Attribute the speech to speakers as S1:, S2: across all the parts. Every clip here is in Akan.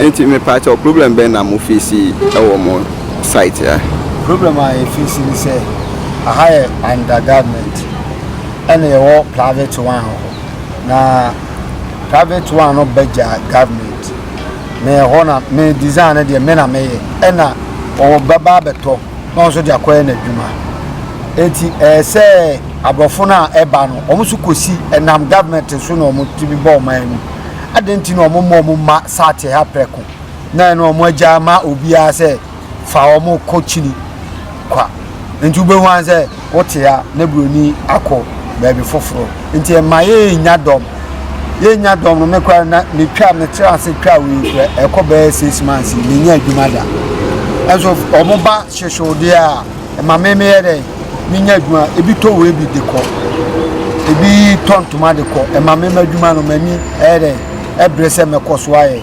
S1: nti mepaakyɛ o problem bɛn na mo fesi ɛwɔ mo site a. problem a yɛfesi
S2: ne sɛ aha yɛ under government ɛna yɛwɔ private one hɔ na private one no bɛgya government na ɛhɔ na me design no deɛ me na meyɛ ɛna ɔwɔ bɛba abɛtɔ. na ɔno nso de akɔyɛ n'adwuma. Enti ɛyɛ sɛ aborɔfo no a ɛba no, wɔn nso kɔsi ɛnam government so na wɔtumi bɔ ɔman mu. Adɛn nti na wɔmma wɔn mma sate ha prɛko na ɛno wɔn agya ama obiara sɛ fa wɔn kɔ kyini kwa? Nti wobɛhu ara sɛ wote a na buroni akɔ baabi foforɔ nti ɛma yɛnya dɔm yɛnya dɔm no mekora na metwa metra ase twa wei kora ɛkɔ bɛyɛ six months menya adwuma da ɛnso wɔn ba hyehyewodeɛ a ɛma me meyɛ dɛ menya adwuma ebi tɔ wei bi de kɔ ebi tɔ ntoma de kɔ ɛma me ma adwuma no m'ani ɛyɛ dɛ ɛbrɛ sɛ mɛkɔ so ayɛ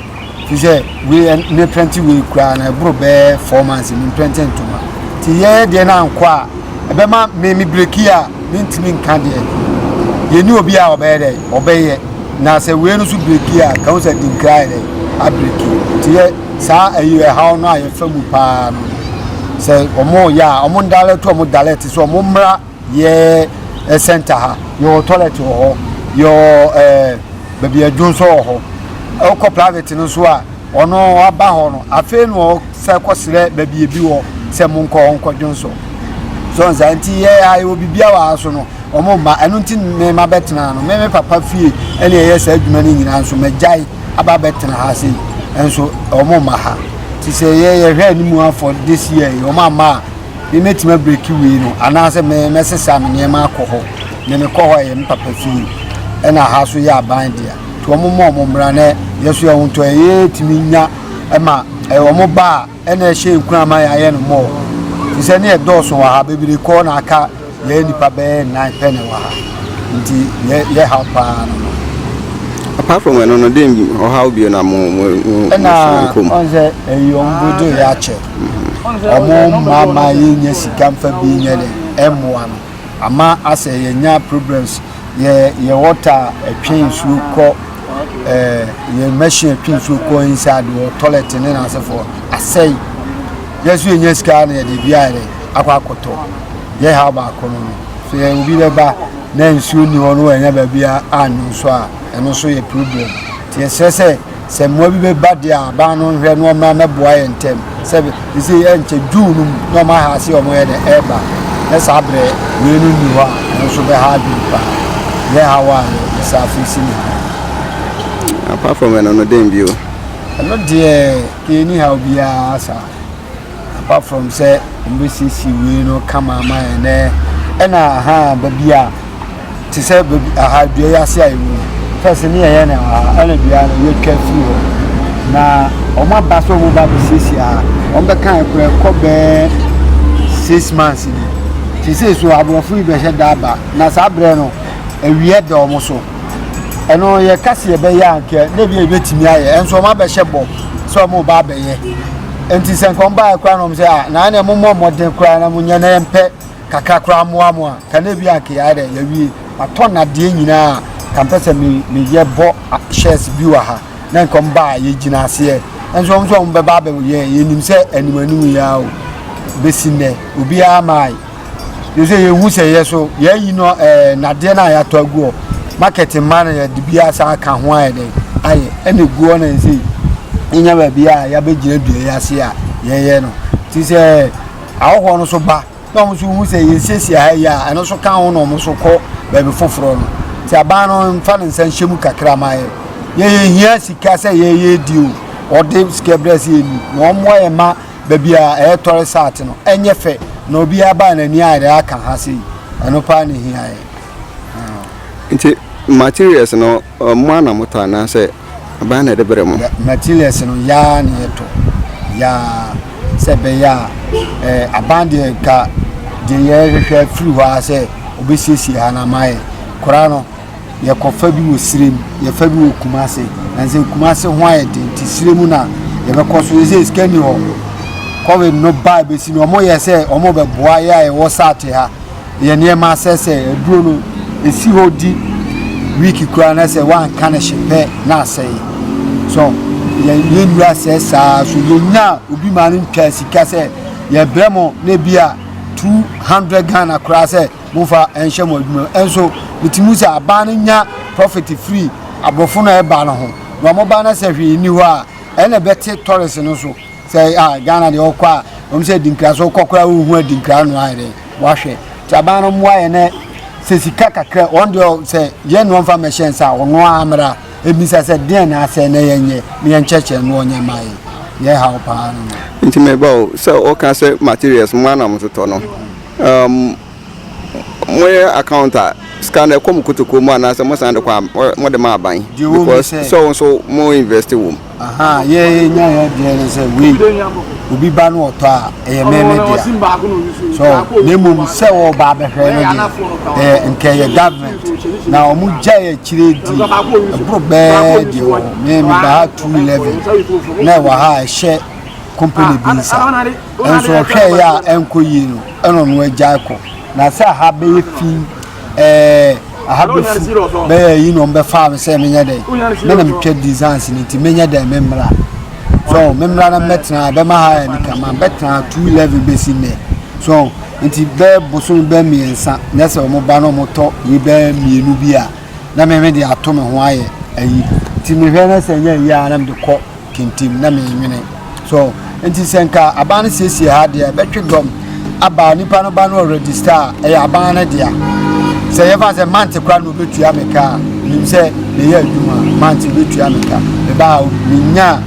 S2: te sɛ wei ɛ- ne prɛnte wei koraa no ɛboro bɛyɛ four months mu mprɛnte ntoma nti yɛyɛ deɛ no ankɔ a ɛbɛma me me breki a mentumi nka deɛ yɛni obi a ɔbɛyɛ dɛ ɔbɛyɛ na sɛ wei no so breki a ka ho sɛ dinkra yɛ dɛ abreki nti yɛ saa ɛyi ɛhaw no a yɛfa mu paa no sɛ wɔn yɛ a wɔn dalɛto wɔn dalɛte so wɔn mmra Yɛ center ha, yɛwɔ toilet wɔ hɔ, yɛwɔ ɛɛ baabi adwo nso wɔ hɔ. Ɛwokɔ private no nso a, ɔno aba hɔ no, afei na ɔsɛ kɔsrɛ baabi ebi wɔ sɛ mo nkɔ hɔ nkɔdwo nso. So nsa nti yɛ ha yɛwɔ biribiara wɔ ha so no, wɔn mma. Ɛno nti me ma bɛtena no, me me papa fie ɛna ɛyɛ saa adwuma no nyinaa nso magyae aba bɛtena ha sei. Ɛnso wɔn mma ha. Ti sɛ yɛ yɛhwɛ anim afɔ this year, wɔn amma a Me mɛtumi abreki wei no anaasɛ me mɛsesa me nneɛma akɔ hɔ na mekɔ hɔ a ɛyɛ me papa fie ɛna aha so yɛ aban dea nti wɔn mmɔ wɔn mmara na yɛso yɛ wɔn tɔ ɛyɛ tumi nya ɛma ɛyɛ wɔn ba a ɛna ɛhyɛ nkura ama yɛayɛ no mmɔɔ te sɛ ne ɛdɔɔso wɔ ha bebree kɔɔ na aka Yɛyɛ nnipa bɛyɛ nnan pɛ na ɛwɔ ha, nti yɛ haw paa no no. Apart
S1: from ɛno no, den ɔhaw bio na mo mo mo ɛna
S2: ɔn sɛ ɛyi ɔmo bodo yɛ akyɛ ɔmo mma ma yɛ nyɛ sika nfa bi nyɛ dɛ ɛmmoa no ama asɛ yɛ nya problems yɛ yɛ wɔta ɛtwe nsuo kɔ ɛɛ yɛ machine ɛtwe nsuo kɔ inside wɔ toilet ne na asɛfoɔ asɛe yɛ so yɛ nya sika na yɛ de bi ayɛ dɛ. akɔ akɔtɔ yɛ ha baako no no so yɛ obi bɛba na nsuo ni hɔ no ɛnyɛ baabi a anwo nso a ɛno nso yɛ problem nti yɛsrɛ sɛ sɛ mmoa bi bɛba deɛ a aban no nhwɛ na ɔmmra mɛboa yɛ ntɛm sɛ ɛsɛ ɛnkyɛ june no mu na ɔma ha ase ɔmo yɛ dɛ ɛreba na saa berɛ wei no nni hɔ a ɛno nso bɛha adwene paa yɛ ha wɔ a yɛsa afei si ne ha
S1: apart from ɛno no dɛn bio ɛno deɛ
S2: kɛni ha obiara saa Apart from sɛ wɔn bɛ siesie wei no kama ama yɛn nɛ ɛna aha baabi a te sɛ baabi aha dua yi ase a yɛ wɔ fɛs ne yɛyɛ na aha ɛna dua no yɛtwa firi hɔ na wɔn aba sɛ wɔn ba bɛsiesie aha wɔn bɛka ɛkora ɛkɔ bɛɛ six months ni sese so aborɔfo yi bɛhyɛ da aba na saa berɛ no awia da wɔn so. ɛno yɛka sɛ yɛbɛyɛ a nka na ebia yɛbɛtumi ayɛ ɛnso ɔma bɛhyɛ bɔ sɛ ɔmo ba abɛyɛ nti sɛ nka ɔmo baayɛ koraa na ɔmo sɛ a na ɛna ɛmo mmɔ mmɔden koraa na mo nyɛ na yɛmpɛ kakra koraa mmoa mo a ka na ebi a nka yɛayɛ dɛ yɛwie atɔ nadeɛ nyinaa ka mpɛ sɛ me meyɛ bɔ shares bi wɔ ha na nka ɔmo ba a yɛgyina aseɛ ɛnso ɔmo sɛ ɔmo bɛba abɛyɛ yɛnim sɛ anim anim yɛ a o bɛsi nnɛ obiara maae ne sɛ yɛhu sɛ yɛ so yɛayi no ɛɛ nadeɛ no a yɛatɔ agu hɔ market mma no yɛde bi asa aka ho ayɛ dɛn ayɛ ɛna egu hɔ na ɛsɛ yɛnya baabi a yɛabɛgyina dua yi ase a yɛyɛ no ti sɛ ahɔhoɔ no so ba na wɔn nso hu sɛ yɛsiesie ha yi a ɛno nso ka ho na wɔn nso kɔ baabi foforɔ no ti aban no nfa ne nsa nhyɛ mu kakra ma yɛ yɛyɛ hia sika sɛ yɛyɛ di o wɔde sika brɛ sɛ yɛni na wɔn mmoa yɛ ma. Baabi a ɛyɛ tɔre saate no, ɛnyɛ fɛ, na obiara baa n'ani ayɛ dɛ aka ha sei. Ɛno paa na ehia yɛn.
S1: Nti materials no, mo ara na motɔ anaasɛ aban na ɛde brɛ mo? Materials no, yɛn
S2: ara na yɛtɔ. Yɛn ara. Sɛ ɛbɛyɛ a, aban deɛ nka deɛ yɛhwehwɛ firi hɔ ara sɛ wɔbɛsiesie ha no ama yɛn. Koraa no, yɛkɔfa bi wɔ sire mu yɛfa bi wɔ kumase na sɛ kumase ho ayɛ den nti sire mu na yɛbɛkɔ so ɛsɛ sika ni hɔ covid no baa bɛsi no ɔmo yɛ sɛ ɔmo bɛboa yɛ a yɛwɔ saate ha yɛ nneɛma sɛ sɛ aduro no ɛsi hɔ di week koraa na sɛ woanka no hye pɛ na asɛe so yɛnnura sɛ saa so yɛnya obi ma no ntwa sika sɛ yɛbrɛ mo na bi a 200 ghana koraa sɛ Momfa nhyɛ mo adwuma mu. Nso mete mu sɛ aban no nya profit firi aborɔfo no a ɛba no ho. Na wɔn ba no sɛ hwee nni hɔ a, ɛyɛ na ɛbɛte tourist no so. Sɛ ah Ghana deɛ ɔkɔ a, wɔn sɛ adinkra so ɔkɔ koraa wohu adinkra no ayɛ dɛ wahwɛ. Nti aban no mmoa yɛn na sɛ sika kakra wɔn deɛ sɛ yɛn na wɔmfa mmɛhyɛ nsa a wɔn ara mmra ebisa sɛ deɛn na asɛ na yɛnyɛ na yɛnkyɛkyɛ no wɔnyɛ mma yɛn. Yɛn haw paa no no. Nti meba o sɛ
S1: wɔka sɛ materials mmoa na wɔtotɔ no. Um, moyɛ account a sika no ɛkɔ mo kotokuo mu anaasɛ mosan de kɔ a mode ma aban because sɛ wo nso mo invest wɔ mu yɛnya
S2: yɛ deɛ ne sɛ wei obi ba no ɔtɔ a ɛyɛ mɛmɛ dea so na mmom sɛ wɔba bɛhwɛ no deɛ ɛyɛ nkɛ yɛ government na ɔmo gya yɛ akyire di ɛboro bɛɛ deɛ wɔ me meba ha 211 na ɛwɔ ha ɛhyɛ company bi nsa Nso ɔhwɛɛ yɛ a ɛnkɔ yie no, ɛna ɔno agyae kɔ. Na sɛ aha bɛyɛ fi, ɛɛ aha bɛfu bɛyɛ yi na ɔmbɛfaa me sɛ menyɛ dɛn. Me na metwa designs no nti menyɛ dɛn me mmra. So me mmra na mɛtena ha bɛma ha yɛ nika ma bɛtena ha two eleven bɛsi nnɛ. So nti bɛɛ bosom bɛɛ mmiɛnsa nyɛ sɛ wɔn ba na wɔtɔ yi bɛɛ mmienu bi a. na me me de ato me ho ayɛ ayi nti mehwɛ na sɛ nyɛ ayi a na mede kɔ kentim na menwene so nti sɛ nka aban no siesie ha deɛ ɛbɛtwe dɔm aba nipa no ba no ɔregister a ɛyɛ aban no dea sɛ yɛfa sɛ mante kora na ɔbɛtua me ka a nim sɛ meyɛ adwuma mante ɔbɛtua me ka mebaa menya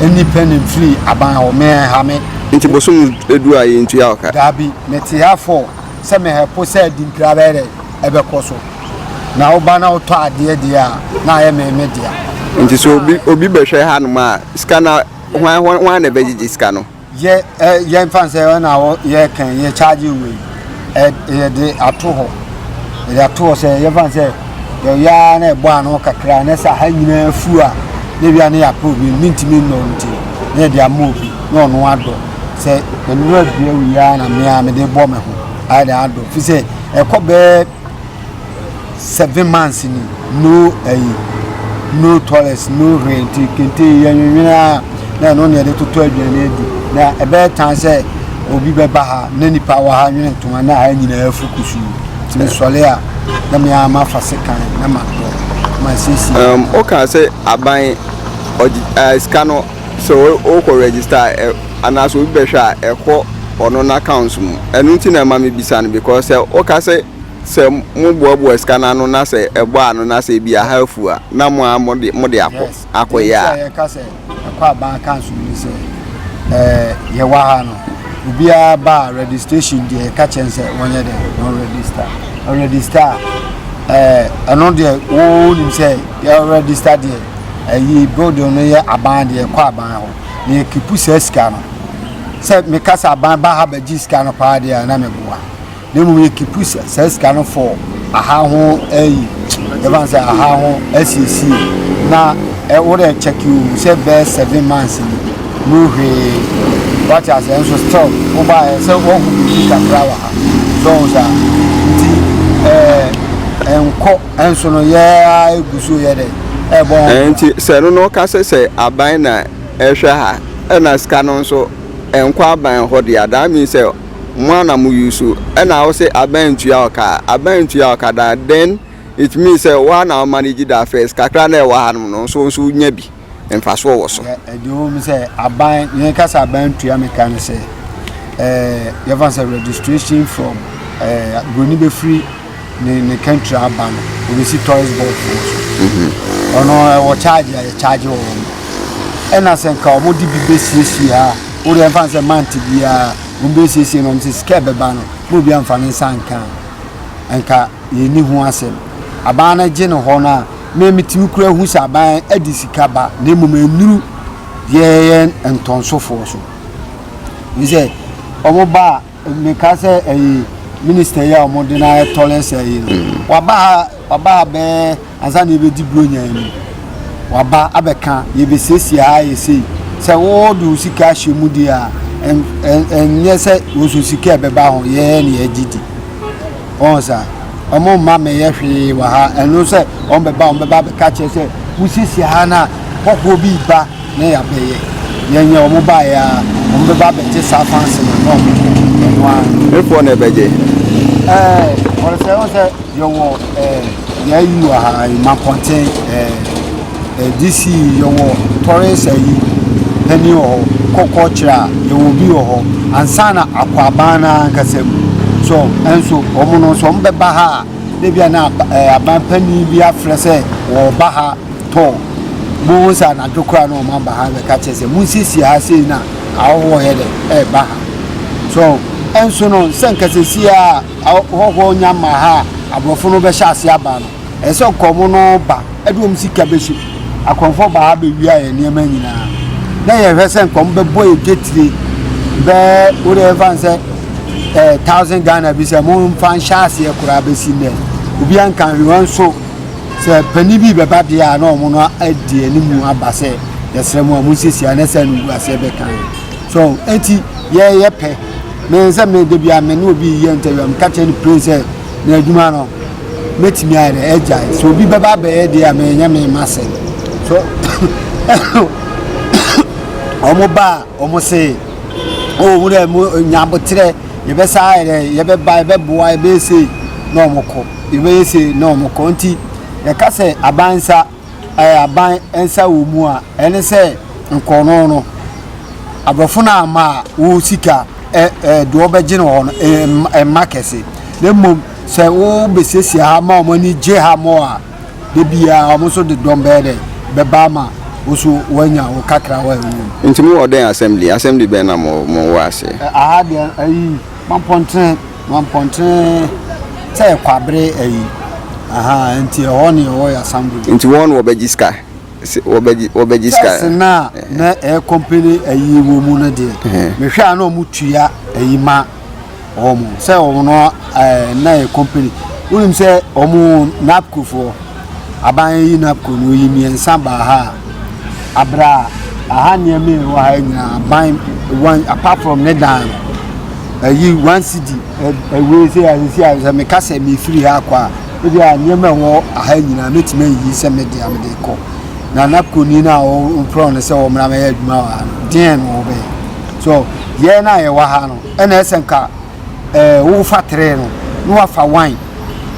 S2: independent free aban hɔ meɛha me nti bosom
S1: edu a yɛntua ɔka daabi mete ha
S2: fɔ sɛ mehɛpo sɛ dinkra bɛyɛ dɛ ɛbɛkɔ so. Na woba na wotɔ adeɛ deɛ a, na ayɛ me me dea. Nti sɛ obi
S1: obi bɛhwɛ hanom a, sika no hwan hwan na ɛbɛgyegye sika no? Yɛ ɛ yɛn
S2: fan sɛ ɛwɔ na wɔ yɛ kɛn yɛ charge wei ɛ yɛde ato hɔ yɛde ato hɔ sɛ yɛ fan sɛ yɛyaa na ɛbɔ ano kakra na sɛ ha nyinaa fu a na ebia ne yɛapɛ obi ne ntumi nnɔ nti na yɛde ama obi na ɔno adɔ sɛ nnuro abia wei ara na mmea mede bɔ me ho ayɛ de adɔ fi sɛ Ɛkɔ bɛyɛ seven months ni no ɛyi no toilets no hwee nti kente yɛnwenwene a na ɛno na yɛde totɔ aduane adi na ɛbɛyɛ tan sɛ obi bɛba ha na nipa wɔ ha nwene ntoma na ha nyinaa afu kusuu nti mesɔre a na mea mafa sekan na matɔ masiesie. Um, woka sɛ
S1: aban ɔgye uh, sika no sɛ wokɔ register a ɛ anaa sɛ obi bɛhwɛ a ɛkɔ ɔno n'accounts mu ɛno nti na ɛma mebisa no because sɛ woka sɛ sɛ moboaboa sika no ano na sɛ ɛbɔ a no na sɛ ebi aha afu a na mo a mode mode akɔ yes akɔyɛ a ɛnti a yɛka sɛ ɛkɔ
S2: aban accounts mu sɛ ɛɛ yɛwɔ ha no obiara ba a registration deɛ yɛka kyɛn sɛ wɔnyɛ dɛ wɔn register wɔn register a ɛɛ ɛno deɛ wɔn nim sɛ yɛ register deɛ ɛyi building no yɛ aban deɛ ɛkɔ aban hɔ na yɛkipu saa sika no sɛ meka sɛ aban ba ha bɛgye sika no paa deɛ na meboa na mmom yɛkipu saa sika no fɔ aha ho ɛyi yɛfa sɛ aha ho asiesie na ɛwodɛ kyɛke o sɛ bɛɛ seven months ni no hwee wate asɛ nso still wobaɛ sɛ woahu biribi kakra wɔ ha sɛ ɔhu saa nti ɛɛ nkɔ Nso no yɛ ara egu so yɛ dɛ ɛbɔ ho. Nti sɛ ɛno na ɔka
S1: sɛ sɛ aban na ɛhwɛ ha ɛna sika no nso ɛnkɔ aban hɔ dea that means sɛ mo ara na mo use ɛna ɔse aban ntua ɔka a aban ntua ɔka da then it means sɛ wo ara na wo manage the affairs kakra na ɛwɔ ha nom no nso nso nya bi. mfasoɔ wɔ so. Deɛ ɛwɔ mu sɛ
S2: aban, yɛn ka sɛ aban tua me ka no sɛ yɛfa sɛ registration from buroni bɛfiri ne ne country aba no obɛsi tourist board wɔ so mhm. ɔno ɛwɔ charge a yɛcharge wɔ wɔn ɛna sɛ nka wɔn de bi bɛsiesie a wode ɛmfa sɛ mante biara wɔn bɛsiesie no wɔn sɛ sika ɛbɛba no na obi amfa ne nsa nka nka yɛni ho asɛm abaa no gye no hɔ no a Me mete wo kura hu sɛ aban de sika ba na mmom nnuru deɛ ɛyɛ ntɔnsofoɔ so ne sɛ wɔn ba a meka sɛ ɛyɛ minista yi a wɔn de na ɛtɔlɛ sɛ yi no mm. waba ha waba ha bɛɛ ansa na ebedi buronya yi waba abɛka yɛbɛsiesie ha yɛ sei sɛ wɔde wo sika ahyɛ mu deɛ a ɛnyɛ sɛ wɔsɔ sika ɛbɛba ho yɛyɛ ne yɛgye di Wɔn sa. Wɔn mma meyɛ hwee wɔ ha. Ɛno sɛ wɔn bɛba, wɔn bɛba bɛka kyerɛ sɛ wosiesie ha na hɔhoɔ bi ba na yɛabɛyɛ. Yɛnyɛ wɔn baeɛ a, wɔn bɛba bɛte saa fa ase na na wɔn ɛno ara. Me poɔ na ɛbɛgye.
S1: Ɛɛ,
S2: wɔn sɛ wɔn sɛ yɛwɔ ɛɛ yɛayi wɔ ha, mma pɔnten ɛɛ. DC yɛwɔ tɔres ayi panin wɔ hɔ kɔkɔɔ kyerɛ a yɛwɔ bi wɔ hɔ ansa na akwaban no ankasa mu so nso wɔn no nso wɔn bɛba ha a ebi a na eh, aban panin bi afrɛ sɛ wɔreba ha tɔ mo ho sɛ anadwo koraa na wɔn aba ha bɛka kyerɛ sɛ monsiesie ha sei na ahɔhoɔ yɛ dɛ ɛreba ha so nso no sɛ nkasɛsi a ahɔhoɔ nya ma ha a aborɔfo no bɛhyɛ ase aba no ɛsɛ nkɔm no ba Ɛde wɔn sika bɛhyɛ mu. Akɔmfoɔ baa ha bɛwia yɛn nneɛma nyinaa. Na yɛhwɛ sɛ nkɔm bɛbɔ yɛ gyetire bɛɛ wode ɛfa n sɛ eh, thousand Ghana bi sɛ momfa nhyɛ aseɛ koraa bɛsi nnɛ. Obi anka hwewɛ nso sɛ pani bi bɛba deɛ a na ɔmo no adi anim aba sɛ yɛsrɛ mu a monsiesie a na sɛ no wu aseɛ bɛka so enti yɛyɛ pɛ me sɛ me da bi a me ne obi yɛ ntɛwia meka kyerɛ no plen sɛ na adwuma no Mɛtumi ayɛ dɛ agyae. Sɛ obi bɛba abɛyɛ deɛ a menyɛ me mma sɛ. So wɔn ba a wɔn se o oh, wura mu nya aboterɛ yɛbɛsa ayɛ dɛ yɛbɛba yɛbɛboa yɛbɛyɛ sei na wɔn kɔ yɛbɛyɛ sei na wɔn kɔ nti yɛka sɛ abansa. aban nsa wɔ mu a, ɛne sɛ nkorɔno no, aborɔfo no ama a wo sika ɛ ɛ deɛ ɔbɛgye no hɔ no ɛmma kɛse na mmom sɛ wo bɛsiesie ha ma wɔn ani gye ha mɔ a da biara wɔn nso de dɔm bɛyɛ dɛ bɛba ama wo nso wɔanya wo kakra wɔ ɛwɔ mu. Nti mo wɔ dɛn assembly
S1: assembly bɛn na mo mo wɔ aseɛ. Aha deɛ ayi
S2: mampɔntene. Wɔn mpɔntene sɛ kwabere ayi aha nti ɛhɔ ne ɛwɔ Yasambri. Nti wɔn na wɔbɛgye sika
S1: wɔbɛgye sika. Church
S2: no a na ɛyɛ company ayi wɔ mu no deɛ mehwɛ a na wɔn tua ayi ma wɔn sɛ wɔn no ɛɛ na yɛ company. Wonim sɛ wɔn napcofoɔ. Aban yi na kuro yi mmiɛnsa baa ha a, berɛ a aha nneɛma a ɛwɔ ha nyinaa aban one apart from ne dan ɛyi one city ɛwei sɛ asisi a sɛ meka sɛ mefiri ha akɔ a ebi a nneɛma ɛwɔ aha nyinaa mɛtumi ayi sɛ mede a mede kɔ na na kuro ni no a wɔmprɔn no sɛ wɔmmra mɛyɛ adwuma wɔ ha no deɛn na wɔbɛyɛ so yɛn no a yɛwɔ ha no ɛna ɛsɛ nka eh, wofa trɛ no na wafa wine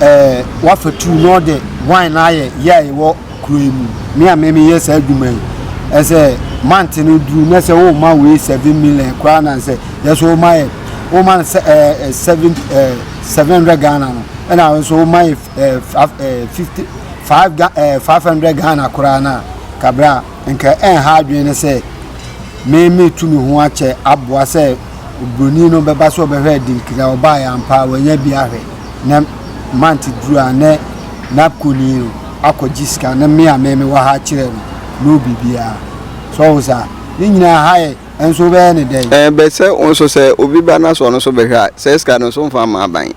S2: eh, wafa tu na ɔde wine no ayɛ yɛ a ɛwɔ kuro yi mu me a mɛmi yɛ saa adwuma yi ɛsɛ mante no duru na sɛ woma wei seven million koraa na sɛ yɛ so woma yɛ woma no sɛ ɛɛ seven ɛɛ seven hundred ghana no ɛna wɔn nso woma yɛ ɛɛ ɛɛ fifty five ɛɛ five hundred ghana koraa na kabra nka ɛnha adwene no sɛ mɛmi tu me ho akyɛ aboa sɛ. Oburoni no bɛba sɛ ɔbɛhwɛɛ Dinkira a ɔbaeɛ ampa a wanya bi ahwɛ na month duru a na n'apkoni no akɔgye sika na me a me mewɔ ha akyerɛ no no biribiara so ɔho saa ne nyinaa ha yɛ nso wobɛyɛ ne dɛn. Ɛɛ bɛt sɛ wo nso sɛ
S1: obi ba na sɛ ɔno nso bɛhwɛ a saa sika no nso womfa mma aban.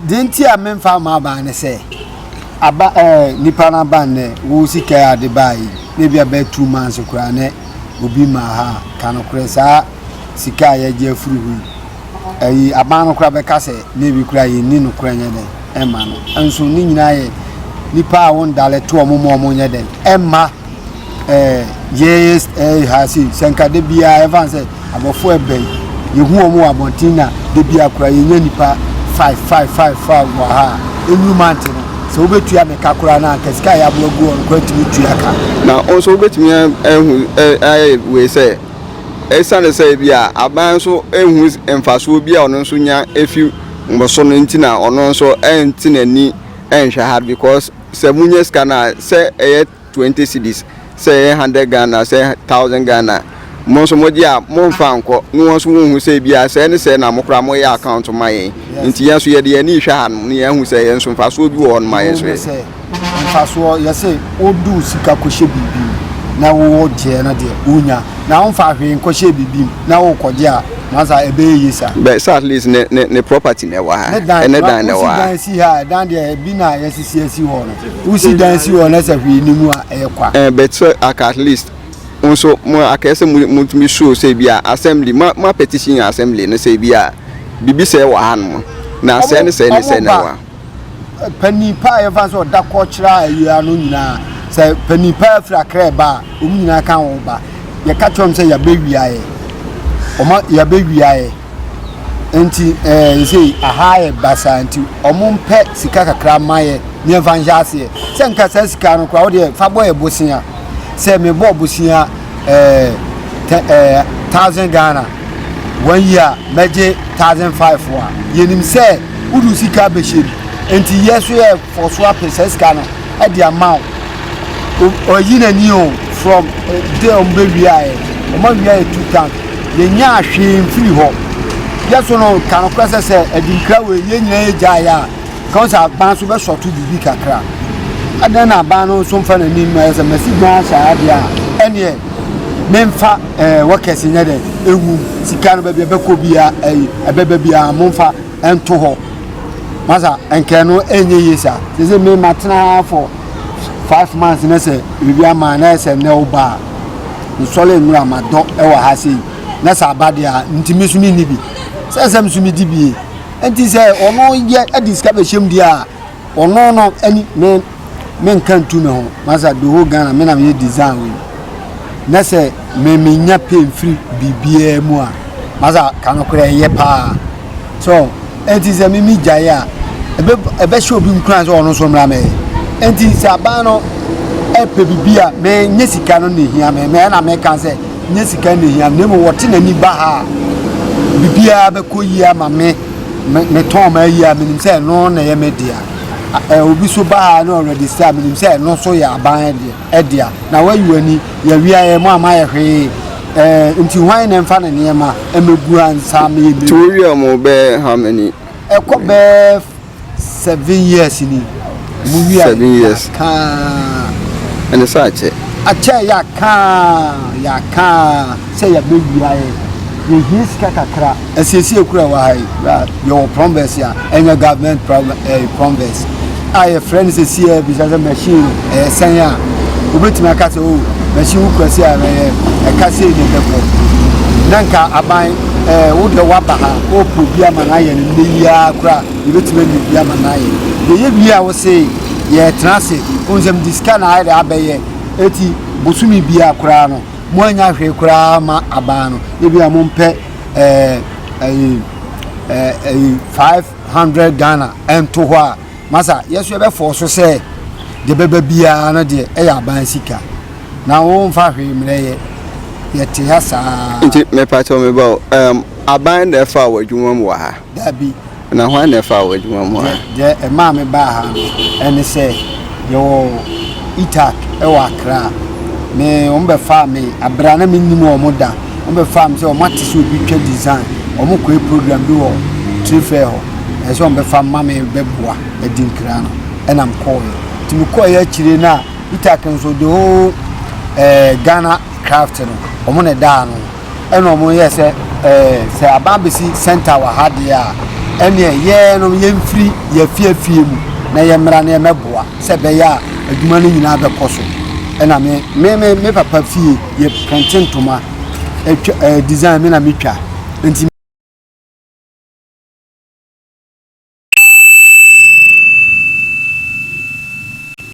S1: Deɛ nti a
S2: memfa mma aban ne sɛ, aba ɛɛ eh, nipa no aban nɛ wo sika yɛ ade baa yi na ebi abɛyɛ two months koraa nɛ obi ma ha ka no korɛ saa sika a yɛgye afiri ho yi ɛyi aban no koraa bɛka sɛ na ebi koraa yɛnni no korɛ nyɛ dɛn ɛma no nso ne nyinaa yɛ nipa a wɔndalɛ to wɔn ma wɔn nyɛ dɛn ɛma ɛɛ yɛyɛ ɛɛ ha se sɛ nka da biara ɛfa sɛ abɔfo ɛbɛn yehu wɔn wɔ abɔnten na da biara kura yɛnyɛ nipa five five five five wɔ ha a enuru mante no sɛ wobɛtua ne ka koraa na anka sika a yɛaboa gu wɔn koraa tumi tua ka. na nso wobɛtumi
S1: ahu ayɛ wei sɛ ɛsiane sɛ ebi a aban nso ehu mfasoɔ bi a ɔno nso nya efi mo so no nti na ɔno nso ɛnte n'ani ɛnhwɛ ha because. sɛ monya sika no a, sɛ ɛyɛ twenty cedis, sɛ ɛyɛ hundred Ghana, sɛ ɛyɛ thousand Ghana, mo nso mogye a, momfa nkɔ, na wɔn nso wɔnhu sɛ ebia sɛɛ ne sɛɛ na mo koraa moyɛ account ma yɛn. Nti yɛn nso yɛde yɛn ani rehwɛ hanom na yɛahu sɛ yɛn nso mfasoɔ bi wɔ hɔ nom a yɛn nso yɛyɛ. Sɛ mfasoɔ
S2: yɛ sɛ wodu sika kɔhyɛ biribi mu na wogyeɛ no deɛ, wonya, na womfaa hwee nkɔhyɛɛ biribi mu na wokɔgye a, Na sa ebe ye ye sa. But sa at least ne
S1: ne ne property na ɛwɔ ha. Ne dan ne dan na ɛwɔ ha. Usi dan si ha, dan deɛ
S2: ebi na yɛsisi esi hɔ no. Usi dan si hɔ na sɛ hwee ni mu a ɛyɛ kwa. Eh, but so aka at
S1: least nso mo akɛyɛ sɛ motumi show sɛ bi a assembly mo mo petition assembly no sɛ bi a bibi sɛ wɔ ha no na sɛ ne sɛ ne sɛ na wa. panin
S2: paa yɛfa sɛ ɔda kɔ kyerɛ a ɛyɛ ano nyinaa sɛ panin paa firi akra ɛba a wɔn nyinaa ka wɔn ba yɛka kyerɛ wɔn sɛ yɛabɛwiaeɛ wɔn yɛabɛwiaeɛ nti ɛɛ yɛsɛ aha yɛ basa nti wɔn mpɛ sika kakra ma yɛ ne yɛmfa nhyɛ aseɛ sɛ nka saa sika no koraa wɔdeɛ fa bɔ yɛ bosea sɛ mebɔ bosea ɛɛ ɛɛ thousand ghana. One year a mɛgye thousand five a yɛnim sɛ wode wo sika bɛhyɛ mu nti yɛ so yɛ fɔ so apɛ saa sika no de ama wo ɔyi n'ani o from de ɔmo bɛwiaeɛ ɔmo awiaeɛ two tank yɛnya ahwee mfiri hɔ yɛ so no ka no korɛ sɛ sɛ adinkra wei yɛ nyina yɛ gyaeɛ a Ɛka sɛ aban nso bɛsɔto biribi kakra. Adɛn na aban no nso mfa n'ani mma sɛ masi dan ahyɛ ha deɛ a, ɛneɛ memfa eh, wɔkɛse nyɛ dɛ ɛnwum sika no baabi ɛbɛkɔ biara ɛyi ɛbɛba biara momfa ɛnto hɔ masa nkɛ no ɛnyɛ yie saa sɛ sɛ me matena for five months ne sɛ biribi ama na ɛsɛ nnɛ wo baa mesɔre nnora madɔ ɛwɔ ha sei na sɛ aba deɛ a ntumi so menni bi sɛ sɛ mesomedi bie nti sɛ ɔno yɛ ɛde sika bɛ hyɛm deɛ a ɔno no ɛni me me nka ntu me ho masa de ho ghana me na me yɛ design wei na sɛ me me nya pay mfiri biribiara mu a masa ka no korɛ ɛyɛ paa so nti sɛ me me gyae a ɛbɛ ɛbɛ hyɛ obi nkura sɛ ɔno nso mmra mɛ nti sɛ aban no ɛpɛ biribi a me nye sika no na ehia me mɛ na me ka sɛ Nyɛ sika na ehia me, na mmom wɔte n'ani ba ha a, biribiara bɛkɔ yie ama me. Metɔn m'ayi a, menim sɛ ɛno na ɛyɛ me dea. Obi nso ba ha na ɔrɛdista a, menim sɛ ɛno nso yɛ aban dea. Na woayi w'ani, yɛawia yɛn, moamayɛ hwee, enti hwan na ɛmfa ne nneɛma mmɛgu ha nsa mmɛyɛ mmɛwura? Nti woawia mo bɛyɛ
S1: how many? Ɛkɔ bɛyɛ
S2: Seven years ni. Mu wia. Seven years. Kaa.
S1: Ɛne sɛ akyɛ. Akyɛ yɛ
S2: kaa yɛ kaa sɛ yɛ bɛ wia yɛ yɛ hie sika kakra. Ɛsiesie kura wɔ ha yi kura yɛ wɔ prombɛs ya ɛnyɛ government prombɛs a yɛ frɛ ne sɛ si yɛ bisa sɛ machine. ɛyɛ sɛn a, wobɛtumi aka sɛ, o, masi wo kura sei a, ɛyɛ ɛka sei ne bɛkɔ. Na nka aban ɛɛ wo deɛ woaba ha, wɔrepɛ obi ama no ayɛ no nnɛ yi ara kora a, yɛbɛtumi anya obi ama no ayɛ. Yɛyɛ wie a, wo se yɛtena ase, wohu sɛ mede sika na ayɛ dɛ abɛyɛ. Eti bosome biara koraa no, moanya hwee koraa ma aban no. Ebia mompɛ ɛɛ ɛyi ɛɛ ɛyi five hundred Ghana nto hɔ a. Na sɛ yɛn nso yɛbɛfɔɔ so sɛ deɛ ɛbɛba biara no deɛ ɛyɛ aban sika na wɔmfa hwee mmerɛ yɛ, yɛte ha saa. Nti mepatɔ
S1: me ba o, um, aban na ɛfaa wɔ adwuma mu wɔ ha? Dabi. Na
S2: hwan na ɛfaa
S1: wɔ adwuma mu wɔ ha? Deɛ ɛmaa me baa
S2: ha no, ɛne sɛ yɛwɔ ITAC ɛwɔ Accra. Me, wɔn bɛfaa me abira na mennim wɔn da. wɔn bɛ fa me sɛ wɔn ate sɛ obi twa design wɔn kɔɛ program bi wɔ trade fair hɔ ɛsɛ wɔn bɛ fa ma me bɛ boa ɛdi nkira no ɛna me kɔɔ yɛ ti me kɔɔ yɛ akyire na peter kenso the whole ɛɛ eh, ghana craft no wɔn na ɛda ano ɛna wɔn yɛ sɛ ɛɛ eh, sɛ aban bɛsi center wɔ ha deɛ a ɛneɛ yɛɛ no yɛmfiri yɛafiafie mu na yɛmmra no yɛmɛboa sɛ ɛbɛyɛ a adwuma no nyinaa bɛkɔ so ɛna me me me papa fie yɛ prɛnte ntoma ɛtwa ɛɛ eh, design mi na mi twa nti.